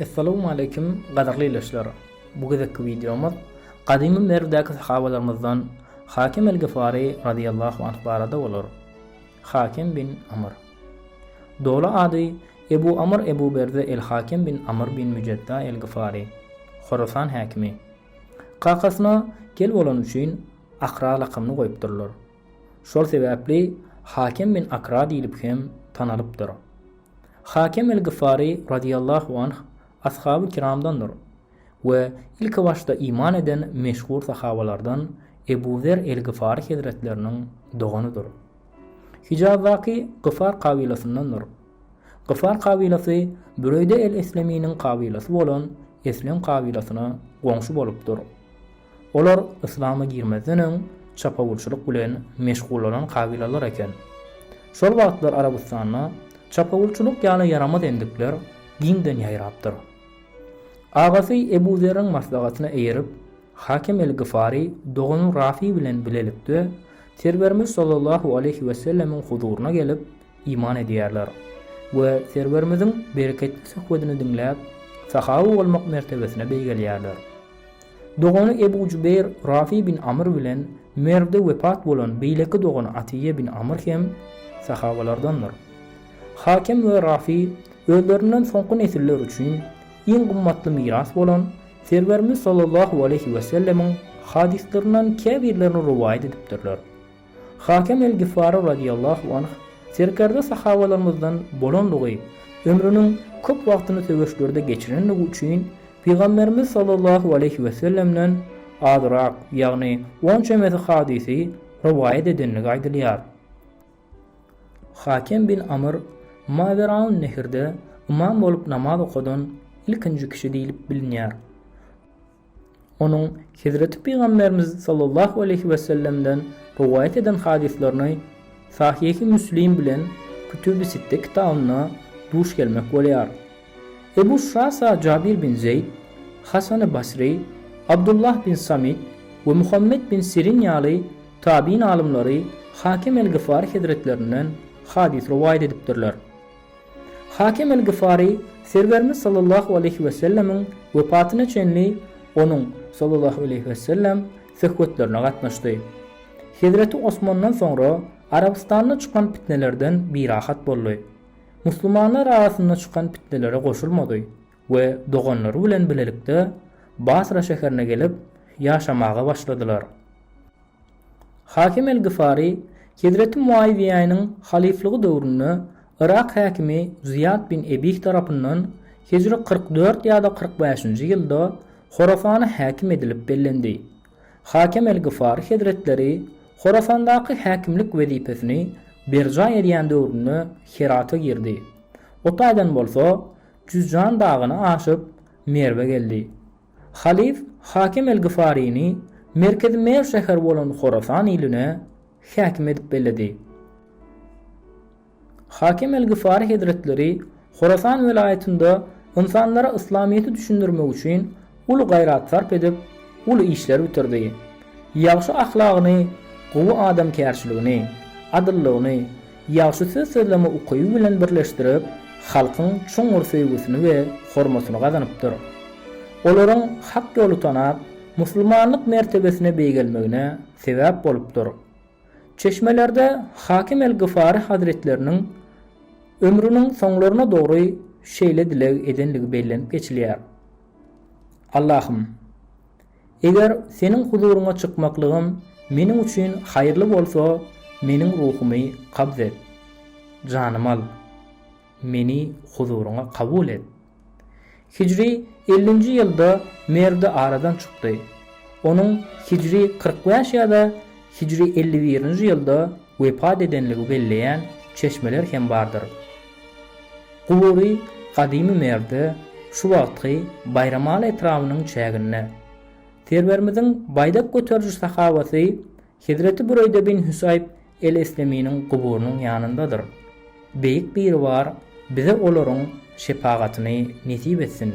Essalawmaleýkim gadyrly ildeşler! Bu gezekki wideomyz gadymy Merwdäki sahabalarymyzdan Hakim el-Gyfary razyýallahu anh barada bolar. Hakim bin Amr. Doly ady Ebu Amr Ebu Berze el-Hakim bin Amr bin Müjedda el-Gyfary. Horasan häkimi. Kakasyna gel bolany üçin Akra lakamyny goýupdyrlar. Şol sebäpli Hakim bin Akra diýlip hem tanalypdyr. Hakem el-Gyfary razyýallahu anh Ashaby kiramdandyr we ilki başda iman eden meşhur sahabalardan Ebu Zer el-Gyfary hezretleriniň doganydyr. Hijazdaky Gyfar kabylasyndandyr. Gyfar kabylasy Büreýde el-Esleminiň kabylasy bolan Eslem kabylasyna goňşy bolupdyr. Olar yslama girmezden öň çapawulçylyk bilen meşgullanan kabylalar eken. Şol wagtlar Arabystanda çapawulçylyk ýaly ýaramaz endikler giňden ýaýrapdyr. Agasy Ebu Zerriň maslahatyna eýerip, Hakem el-Gyfary dogany Rafi bilen bilelikde Serwerimiz sallallahu aleýhi wesellemiň huzuryna gelip, iman edýärler we Serwerimiziň bereketli söhbedini diňläp, sahaba bolmak mertebesine beýgelýärler. Dogany Ebu Jubeýr Rafi bin Amr bilen Merwde wepat bolan beýleki dogany Atiýe bin Amr hem sahabalardandyr. Hakem we Rafi özlerinden soňky nesiller üçin iň gymmatly miras bolan Serwerimiz sallallahu aleýhi wesellemiň hadyslarynyň käbirlerini rowaýat edipdirler. Hakem el-Gifary radyýallahu anh serkerde sahabalarymyzdan bolandygy, ömrüniň köp wagtyny söweşlerde geçirendigi üçin Pygamberimiz sallallahu aleýhi we sellemden azrak, ýagny on çemesi hadysy rowaýat edendigi aýdylýar. Hakem bin Amr Maweraun-Nehirde ymam bolup namaz okadan ilkinji kişi diýlip bilinýär. Onuň Hezreti Pygamberimiz sallallahu aleýhi wesellemden rowaýat eden hadyslaryna Sahyhy Müslim bilen Kütübi Sitte kitabynda duş gelmek bolýar. Ebu Şasa Jabir bin Zeýd, Hasany Basry, Abdullah bin Samit we Muhammet bin Sirin ýaly tabyn alymlary Hakem el-Gyfary hezretlerinden hadys rowaýat edipdirler. Hakim el-Gyfary Serwerimiz sallallahu aleýhi we sellemiň wepatyna çenli onuň, sallallahu aleýhi we sellem, söhbetlerine gatnaşdy. Hezreti Osmandan soňra Arabystanda çykan pitnelerden birahat boldy. Musulmanlar arasynda çykan pitnelere goşulmady we doganlary bilen bilelikde Basra şäherine gelip ýaşamaga başladylar. Hakim el-Gyfary, Hezreti Muawiýäniň halyflygy döwründe Yrak häkimi Zyýat bin Ebih tarapyndan hijri kyrk dört ýa-da kyrk bäşinji ýylda Horasana häkim edilip bellendi. Hakem el-Gyfary hezretleri Horasandaky häkimlik wezipesini berjaý edýän döwründe Herata girdi. O taýdan bolsa Jüzjan dagyny aşyp, Merwe geldi. Halyf Hakim el-Gyfaryny merkezi Merw şäheri bolan Horasan iline häkim edip belledi. Hakim el-Gyfary hezretleri Horasan welaýatynda ynsanlara yslamyýeti düşündirmek üçin uly gaýrat sarp edip, uly işler bitirdi. Ýagşy ahlagyny, gowy adamkärçiligini, adyllygyny, Ýagşy söz sözleme ukyby bilen birleşdirip, halkyň çuňňur söýgüsini we hormatyny gazanypdyr. Olaryň hak ýoly tanap, musulmanlyk mertebesine beýgelmegine sebäp bolupdyr. Çeşmelerde Hakim el-Gyfary hazretleriniň ömrüniň soňlaryna dogry şeýle dileg edendigi bellenip geçilýär, Allahym! Eger Seniň huzuryňa çykmaklygym meniň üçin haýyrly bolsa, meniň ruhumy kabz et. Janymy al. Meni huzuryňa kabul et. Hijri ellinji ýylda Merdi aradan çykdy. Onuň hijri kyrk bäş ýa-da hijri elli birinji ýylda wepat edenligi belleýän çeşmeler hem bardyr. Gubury Gadymy Merwde, şu wagtky Baýramaly etrabynyň çäginde. Serwerimiziň baýdak göteriji sahabasy Hezreti Büreýde bin Hüsaýb el-Esleminiň guburynyň ýanyndadyr. Beýik Biribar bize olaryň şepagatyny nesip etsin!